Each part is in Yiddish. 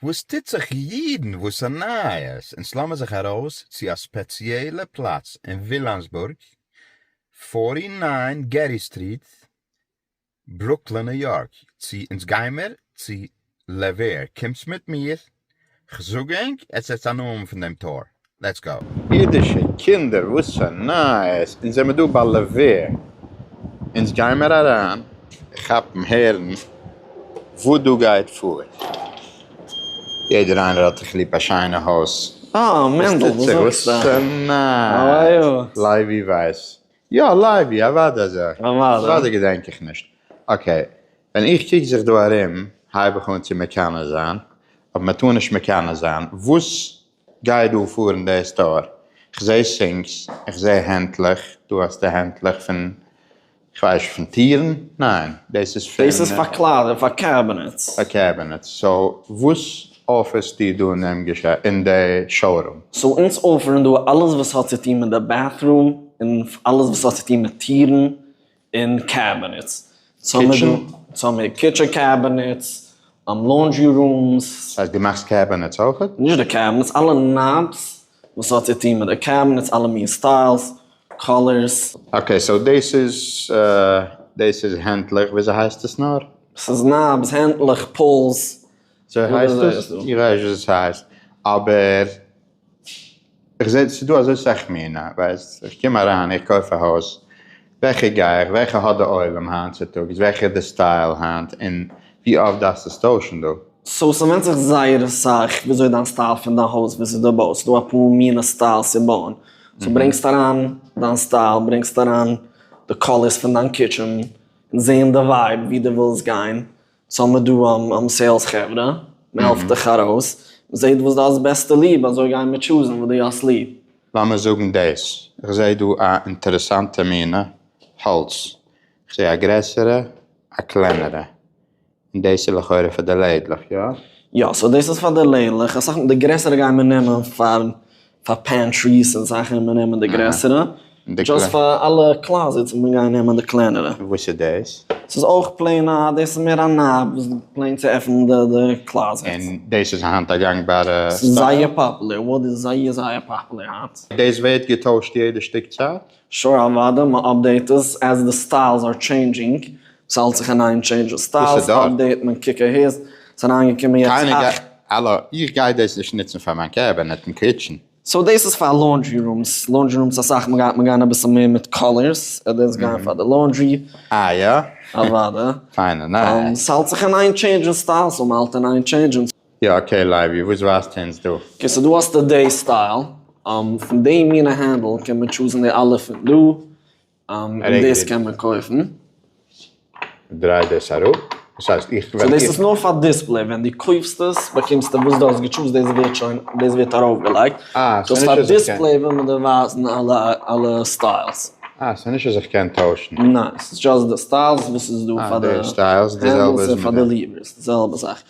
וואס טוט זיך אידן וואס א נייעס אונז לאמען זיך ארויס צו א ספעציעלע פלאץ אין ווילאמסבורג פֿאָרטי נײַן גערי סטריט ברוקלין ניו יארק צו אונז גיימער צו לע ווער קומטס מיט מיר כ'זאג ענק עס עטס א נאמען פון דעם טאר לעטס גאו! אידישע קינדער וואס פאר נייעס אונז זעמער דא ביי לוויה אונז גיימער אריין כאפן הערן וואס דא גייט פאר יעדער איינער האט דיך ליב א שיינע הויז אה מענדל וואס זאגסטו? וואס פאר נייעס? לייבי ווייס יא לייבי אוודאי אזוי אוודאי געדענק איך נישט אקעי ווען איך קוק זיך דא ארום הייב איך אן צו מקנא זיין אבער מען טאר נישט מקנא זיין וואס גיי דא פאר אין די סטאר, כ'זע סינקס, כ'זע הענטלעך, דא האסטו הענטלעך פון, כ'ווייס פון טירן? ניין, דאס איז פון. דאס איז פאר קליידער און פאר קעבינעטס. פאר קעבינעטס, סאו וואס אפערסטו דא אין די שאורום? סאו אונז אפערן דא אלעס וואס האט צו טון מיט די בעטרום, און אלעס וואס האט צו טון מיט טירן, און קעבינעטס, צוימער קיטשען קעבינעטס, לאנדרי רומס. דאס הייסט דו מאכסט קעבינעטס אויך? נישט די קעבינעטס, אלע נאבס וואס האט צו טון מיט די קעבינעטס, אלע מין סטיילס, קאלערס. אקעי, סאו דאס איז, דאס איז הענטלעך, וויאזוי הייסט עס נאר? ס'איז נאבס, הענטלעך, פולס. אזוי הייסט עס? איך ווייס נישט וויאזוי ס'הייסט, אבער איך זעה ס'איז דא אזוי סאך מינע, ווייסט, איך קום אריין, איך קויף א הויז, וועלכע גיי איך, וועלכע האט די עולם היינט צוטאגס, וועלכע איז די סטייל היינט, און ווי אפט דארפסטו עס טוישן דא. סאו ס'ווענדט זיך זייער אסאך וויאזוי דיין סטייל פון דיין הויז ווי ס'איז דא בויען, ס'איז דא אפאר מינע סטייל צו בויען, סאו ברענגסט אריין דיין סטייל, ברענגסט אריין די קאלערס פון דיין קיטשען, און זעהן די ווייב ווי די ווילסט גיין, ס'האמער דא סעילס חברה, מ'העלפט דיך ארויס, מ'זעהט וואס די האסט בעסטע ליב, אזוי גייען מיר טשוזן וואס די האסט ליב. לאמיר זאגן דעס, איך זעה דא א אינטערעסאנטע מינע האלץ, איך זעה א גרעסערע א קלענערע, און דעס איז לכאורה פאר די לעדלעך, יא? יא, סאו דאס איז פאר די לעדלעך, אסאך מאל די גרעסערע גייען מיר נעמען פאר. פאר פענטריס און זאכן וועט מען נעמען די גרעסערע, דזשאסט פאר אלע קלאזעטס וועט מען גיין נעמען די קלענערע. וואס איז דאס? ס'איז אויך פלעין א, דאס איז מער א נאב וואס איז פלעין צו עפענען די קלאזעטס. און דאס איז היינט א גאנגבארע סטייל? ס'איז זייער פאפולער, וואוד איז זייער זייער פאפולער היינט. דאס ווערט געטוישט יעדע שטיק צייט? שור אוואדע, מען אפדעיט עס עז די סטיילס אר טשעינדזשינג, עס האלט זיך אין איין טשעינדזש די סטיילס, אפדעיט מען קוק אהער, עס איז אריינגעקומען יעצט אַכט. האלא, איך גיי דאס נישט נוצן פאר מיין קעבינעט אין קיטשען. סאו דאס איז פאר לאנדרי רומס, לאנדרי רומס אסאך מאל גייט מען גיין אביסל מער מיט קאלערס, ער דאס גיין פאר די לאנדרי. אה יא? אוואדע. פיינע נייעס. ס'האלט זיך אין איין טשעינדזשן סטייל, סאו מ'האלט אין איין טשעינדזשן. יא אקעי לייבי, וואס ווייזטו אונז דא? אקעי סאו דא האסטו די סטייל, פון די מינע הענדל קען מען טשוזן די אלע פון דא, און דאס קען מען קויפן. דריי דאס אראפ, דאס הייסט איך וועל. סאו דאס איז נאר פאר דיספלעי, ווען דו קויפסט עס באקומסטו וואס דו האסט געטשוזט דאס ווערט שוין, דאס ווערט ארויפגעלייגט, קויז פאר דיספלעי וויל מען דיר ווייזן אלע סטיילס. אה, ס'איז נישט אז איך קען טוישן. ניין, ס'איז דשאסט די סטיילס וואס איז דא פאר די הענדלס און פאר די ליווערס, די זעלבע זאך.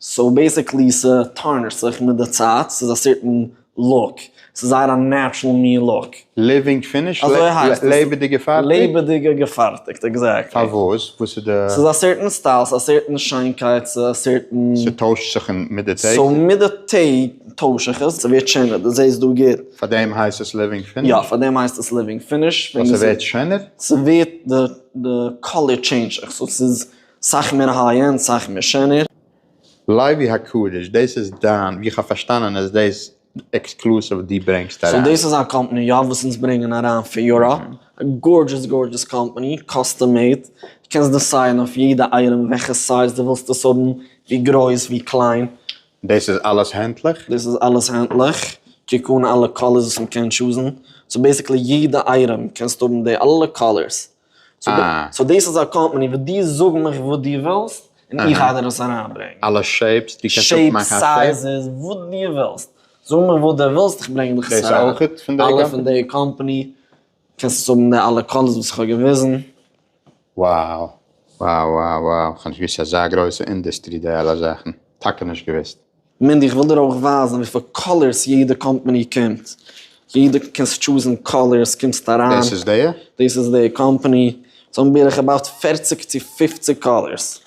סאו בעסיקלי ס'טארנישט זיך מיט די צייט, ס'איז א סערטען לוק, ס'איז זייער א נעטשרעל מין לוק. ליווינג פיניש? אזוי הייסט עס. לעבעדיג געפארטיגט? לעבעדיג געפארטיגט, עקזעקטלי. פארוואס? וואס איז די. ס'איז א סערטען סטייל, ס'איז א סערטען שיינקייט, ס'איז א סערטען. ס'טוישט זיך אין מיט די טעג? סאו מיט די טעג טויש איך עס, ס'ווערט שענער, דו זעסט דא גוט. פארדעם הייסט עס ליווינג פיניש? יא, פארדעם הייסט עס ליווינג פיניש. ווייל ס'ווערט שענער? ס'ווערט די קאליר טשעינדזש זיך, סאו ס'איז סאך מער היי ענד סאך מער שענער. לייבי הקדוש דאס איז דיין, ווי איך האב פארשטאנען איז דאס עקסקלוסיוו וואס דו ברענגסט אריין. סאו דאס איז א קאמפאני יא וואס אונז ברענגען אריין פון יוראפ, א גארדזשעס גארדזשעס קאמפאני, קאסטום מעיד, דו קענסט דעסיידן אויף יעדע אייטעם וועלכע סייז דו ווילסט עס האבן, ווי גרויס ווי קליין. דאס איז אלעס הענטליך? דאס איז אלעס הענטליך, קוק אן אלע קאלערס וואס מ'קען טשוזן, סאו בעסיקלי יעדע אייטעם קענסטו האבן די אלע קאלערס, אה. סאו דאס איז א קאמפאני וואס דו זאג מיך וואס דו ווילסט און איך גיי דיר עס אריינברענגען. אלע שעיפס, דו קענסט אפמאכן א שעיפ. שעיפס, סייזעס, וואס דו ווילסט. זאג מיך וואס דו ווילסט איך ברענג דיך עס אריין. דאס אויך פון די קאמפאני? אלע פון די קאמפאני. קענסט עס האבן די אלע קאלערס וואס איך האב געוויזן. Wow. Wow wow wow. כ'האב נישט געוויסט ס'איז אזא גרויסע אינדוסטרי די אלע זאכן. טאקע נישט געוויסט. מינדי איך וויל דיר אויך ווייזן וויפיל קאלערס יעדע קאמפעני קומט, יעדע קענסט טשוזן קאלערס קומסט אריין, דאס איז די? דאס איז די קאמפעני, זיי האבן בערך אבאוט פערציג צו פופציג קאלערס,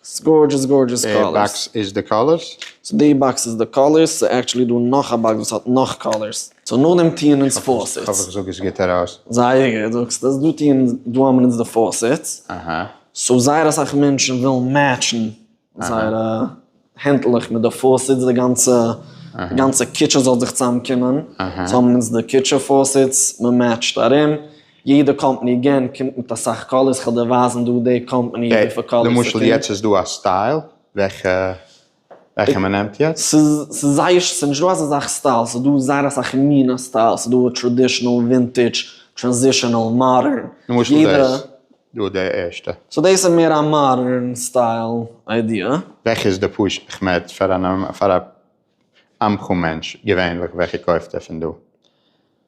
ס'איז גארדזשעס גארדזשעס קאלערס. די באקס איז די קאלערס? סאו די באקס איז די קאלערס, ס'איז עקטשעלי דא נאך א באקס וואס האט נאך קאלערס. סאו נאכדעם טוען אונז פאוסעטס. כ'האף איך זאג עס גוט ארויס. זייער גוט זאגסטו עס, דא טוען, דא האבן אונז די פאוסעטס, סאו זייער אסאך מענטשן ווילן מעטשן זייערע הענטלעך מיט די פאוסעטס, די גאנצע, די גאנצע קיטשען זאל זיך צוזאמקומען, אהה, זיי האבן אונז די קיטשע פאוסעטס, מען מעטשט ארום, יעדע קאמפאני גענט קומט מיט אסאך קאלערס, כ'וועל דיר ווייזן דא די קאמפאני וויפיל קאלערס ס'קומט. למשל יעצט איז דא א סטייל, וועלכע, וועלכע מען נעמט יעצט? ס'איז, ס'איז זייער, ס'איז נישט דא אזא זאך סטייל, ס'איז דא זייער אסאך מינע סטייל, ס'איז דא טראדישענעל, ווינטידזש, טראנזישענעל, מאדערן, יעדע, למשל דאס? דא די ערשטע. סאו דאס איז מער א מאדערן סטייל איידיע. וועלכע איז די פשט? איך מעט פאר א עמך מענטש געווענליך וועלכע קויפט ער פון דא?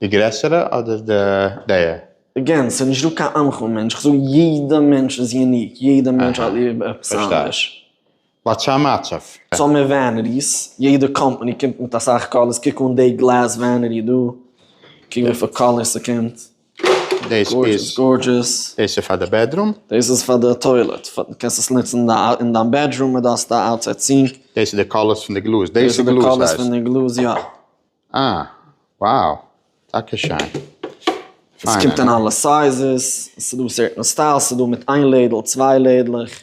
די גרעסערע אדער די? אגעין, ס'איז נישט דא קיין עמך מענטש, איך זאג יעדע מענטש איז יוניק, יעדע מענטש האט ליב עפעס אנדערש. וואטס א מצב? סאו מער וועניטיס, יעדע קאמפאני קומט מיט אסאך קאלערס, קוק אן די גלעז וועניטי דא, קוק וויפיל קאלערס ס'קומט. דאס איז גארדזשעס. דאס איז פאר די בעדרום. דאס איז פאר די טוילעט. קענסט עס נוצן אין דיין בעדרום און דארפסט א אוטסייד סינק. דאס איז די קאלערס פון די גלאז. דאס איז די קאלערס פון די גלאז יא. אה wow טאקע שיין. עס קומט אין אלע סייזעס. עס איז דא סערטען סטיילס. עס איז דא מיט איין לעדל, צוויי לעדלעך.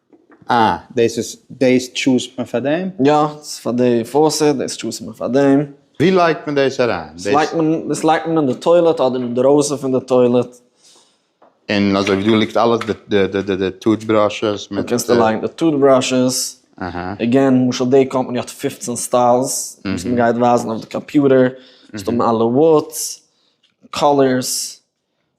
אה, דאס איז, דאס טשוזט מען פאר דעם? יא, ס'איז פאר די פאוסעט, דאס טשוזט מען פאר דעם. ווי לייגט מען דאס אריין? דאס לייגט מען, דאס לייגט מען אין די טוילעט אדער אינדרויסן פון די טוילעט. און אזוי ווי דא ליגט אלעס, די די די די די טוט בראשעס מיט. דא קענסטו לייגן די טוט בראשעס. עגעין, למשל די קאמפאני האט פֿופֿצן סטיילס, וואס מ'גייט ווייזן אויף די קאמפיוטער, ס'דא אלע וואוטס, קאלערס.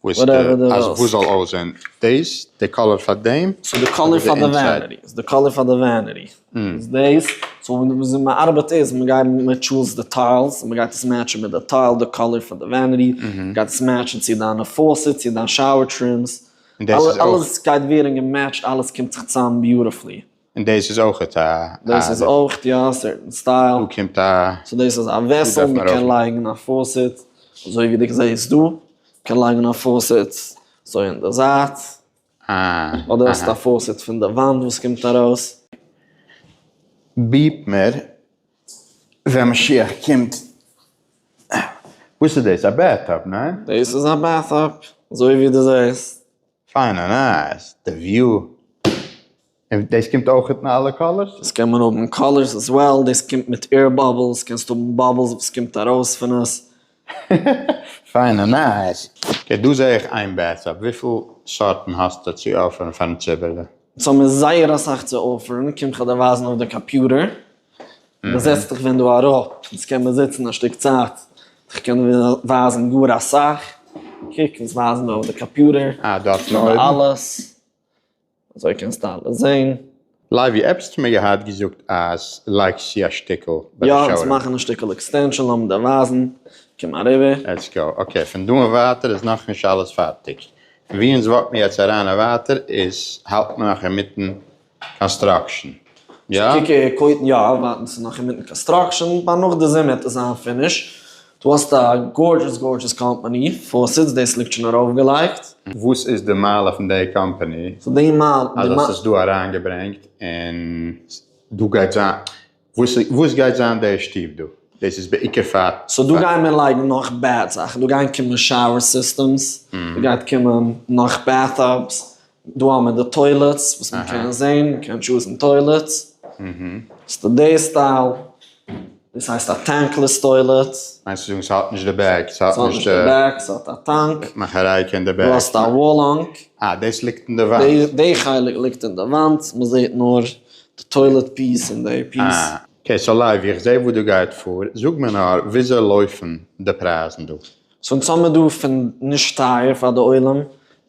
וואס אז וואס זאל אויסזעהן דעיס די קאלער פאר דעם צו די קאלער פאר די וועניטי די קאלער פאר די וועניטי איז דעיס סאו וויאזוי מען ארבעט איז מען גייט מען טשוזט די טיילס מען גייט עס מעטשען מיט די טייל די קאלער פאר די וועניטי גייט עס מעטשען צו דיינע פאסעט צו דיין שאוער טרימס אלעס גייט ווערען געמעטשט אלעס קומט זיך צאם ביוטעפלי. און דאס איז אויך א. דאס איז אויך יא א סערטען סטייל. דא קומט א. סאו דאס איז א וועסעל מען קען לייגן א פאוסעט אזוי ווי דו זעסט דא, קען לייגן א פאוסעט אזוי אין די זייט, אדער האסט א פאוסעט פון די וואנט וואס קומט ארויס. ביפ מיר ווען משיח קומט. וואס איז דאס א בעט טאפ ניין? דאס איז א בעט טאפ אזוי ווי דו זעסט. פיינע נייעס, די וויו, און דאס קומט אויך אין אלע קאלערס? עס קען מען האבן אין קאלערס עז וועל, דאס קומט מיט עיר באבלס, קענסט האבן באבלס וואס קומט ארויס פון עס. פיינע נייעס, אקעי דא זע איך איין בעטס אפ, וויפיל סארטן האסטו צו אפערן פארן ציבור'לע? אונז האבן זייער אסאך צו אפערן, קום כ'וועל דיר ווייזן אויף די קאפיוטער. מען זעצט זיך ווען דא אראפ, אונז קען מען זיצן א שטיק צייט, איך קען ווייזן גאר אסאך, קוק אונז ווייזן אויף די קאפיוטער, אה דא האט מען אויבן, אלעס, אזוי קענסטו אלעס זעהן. לייבי עפסטער מיר געהאט געזאגט אז לייקס צו א שטיקל ביי די שויער. יא אונז מאכן א שטיקל עקסטענשאן לאמיר דיר ווייזן, קום אריבער. לעטס גאו, אקעי פון דא און ווייטער איז נאכנישט אלעס פארטיג, פון ווי אונז וואקן יעצט אריין און ווייטער איז האלט מען נאך אינמיטן קאנסטראקשען, יא? ק ק קויטן יא, ווייטענס איז נאך אינמיטן קאנסטראקשען, ביי נאך די זומער וועט עס זיין פיניש, דו האסט א גארדזשעס גארדזשעס קאמפאני, פארסיטס דאס ליגט שוין ארויפגעלייגט. וואס איז די מעלה פון די קאמפאני אז האסט עס דא אריינגעברענגט און דא גייט זיין. וואס גייט זיין די שטוב דא? דאס איז בעיקר פאר. סאו דא גייען מיר לייגן נאך בעד זאכן, דא גייען קומען שאוער סיסטעמס, דא גייט קומען נאך בעט טאבס, דא האבן מיר די טוילעטס וואס מען קען זעהן, מען קען טשוזן טוילעטס, עס איז דער סטייל, דאס הייסט א טענקלעס טוילעט. מיינסט צו זאגן ס'האט נישט די בעק? ס'האט נישט די בעק, ס'האט א טאנק. מאכערייקע אין די בעק. דו האסט א וואל האנק. אה דאס ליגט אין די וואנט. די חלק ליגט אין די וואנט, מען זעהט נאר. די טוילעט פיס און די פיס. אקעי סאו לייוו איך זעה וואס דא גייט פאר, זאג מיר נאר וויאזוי לויפן די פרייזן דא? סאו אונז האמיר דא פון נישט טייער פאר די עולם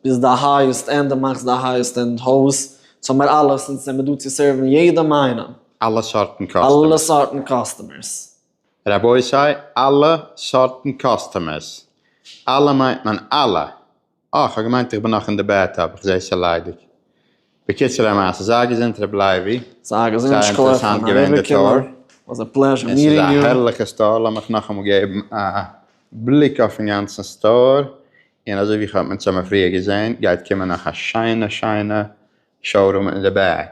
ביז די הייעסט ענד די מאכסט די הייעסט ענד הויז, אונז האמיר אלעס אונז זעמיר דא צו סערוון יעדעם איינעם. אלע סארטן קאסטומערס. אלע סארטן קאסטומערס. רבותי אלע סארטן קאסטומערס. אלע מיינט מען אלע. אה, כ'האב געמיינט איך בין נאך אין די בעטאב, איך זעה ס'ליידיג. בקיצור המעשה, זייער געזונט ר' לייבי, זייער אינטערעסאנט געווען די טור. עס איז א הערליכע סטאר, לאמיך נאכאמאל געבן א בליק אויפן גאנצן סטאר, און אזוי ווי כ'האב מינסאמע פריער געזען גייט קומען נאך א שיינע שיינע שאורום אין די בעק.